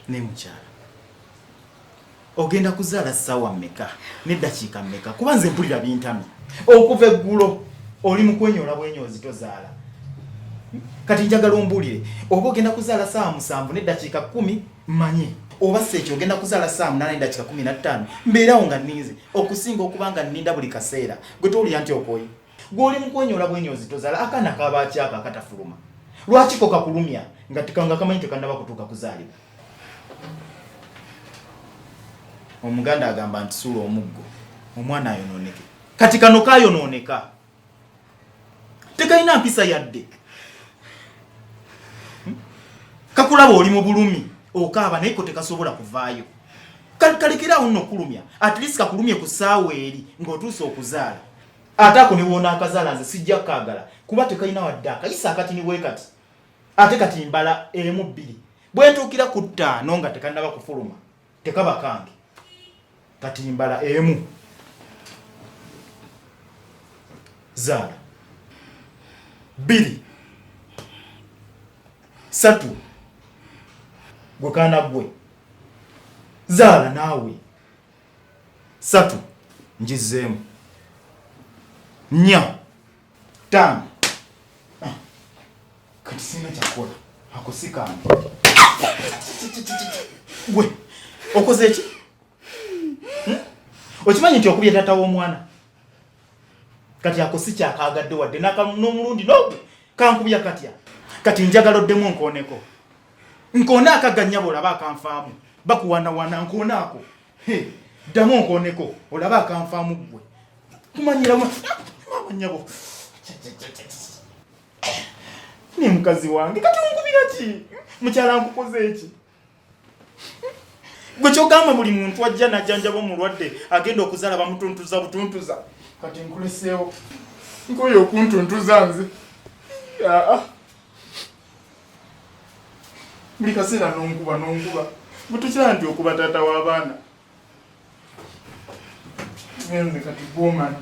ne mukyala ogenda kuzaala ssaawa mmeka n'eddakiika mmeka kuba nze mpulira bintamye okuva eggulo oli mu kwenyoola bwenyoozi tozaala kati njagala ombuulire oba ogenda kuzaala ssaawa musanvu n'eddakiika kkumi manye oba seekyo ogenda kuzaala saamu nana edakika kumi na ttaano mbeerawo nga nninze okusinga okuba nga nninda buli kaseera gwe towulira nti okoye gw'oli mukwonyoola bwenyoozi tozaala akaana kabaakyako akatafuluma lwaki ko kakulumya nga tikanga kamanyi tekannaba kutuuka kuzaalibwa omuganda agamba nti suula omuggo omwana ayonooneke kati kano kayonooneka tekalina mpisa yadde hmm? kakulaba oli mu bulumi okaaba naye ko tekasobola kuvaayo kalekeraawo nno okulumya at least kakulumye ku ssaawa eri ng'otuuse okuzaala ate ako niwoona akazaala nze sijja kukagala kuba tekalina wadde akayisa akati niwe kati ate kati mbala emu bbiri bwentuukira ku ttaano nga tekannaba kufuluma tekaba kange kati mbala emu zaala bbiri satu gwe kaana gwe zaala naawe satu njizzeemu nya Ttaano. Ah, kati sirina kyakukola ako si kange. Gwe okoze ki? Hmm? Okimanyi nti okubye taata w'omwana kati ako si kyakaagadde wadde n'omulundi n'ogu kankubya katya kati njagala oddemu nkooneko nkoone akaganyabo olaba akanfaamu bakuwanawana nkoone ako ddamu onkooneko olaba akanfaamu ggwe kumanyiramu maama nyabo ne mukazi wange kati onkubira ki mukyala nkukoze eki gwe kyogamba buli muntu ajja najjanjaba omulwadde agenda okuzaala bamutuntuza butuntuza kati nkuleseewo nkoyo okuntuntuza nze aa ah, ah. buli kaseera nonkuba nonkuba bwetukira nti okuba taata w'abaana nze kati gwomanyi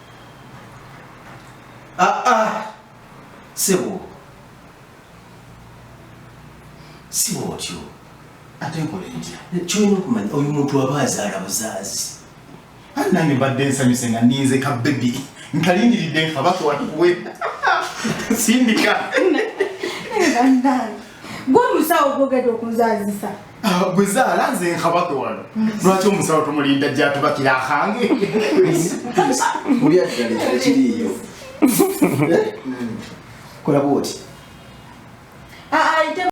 Ah, ah. Sebo. Si bwotyo. Ate nkola entya. Kyolina okumanya oyo muntu aba azaala buzaazi. Ani nange mbadde nsanyuse nga ninze ka bebi nkalindiridde nkabaka watuwe sindika. Gwe omusawo gwogedde okunzaazisa. Ah, gwe zaala nze nkabake wano lwaki omusawo tumulinda jatubakira akange mulyaddalikiriyo eh? hmm. kolaba oti ah, ah,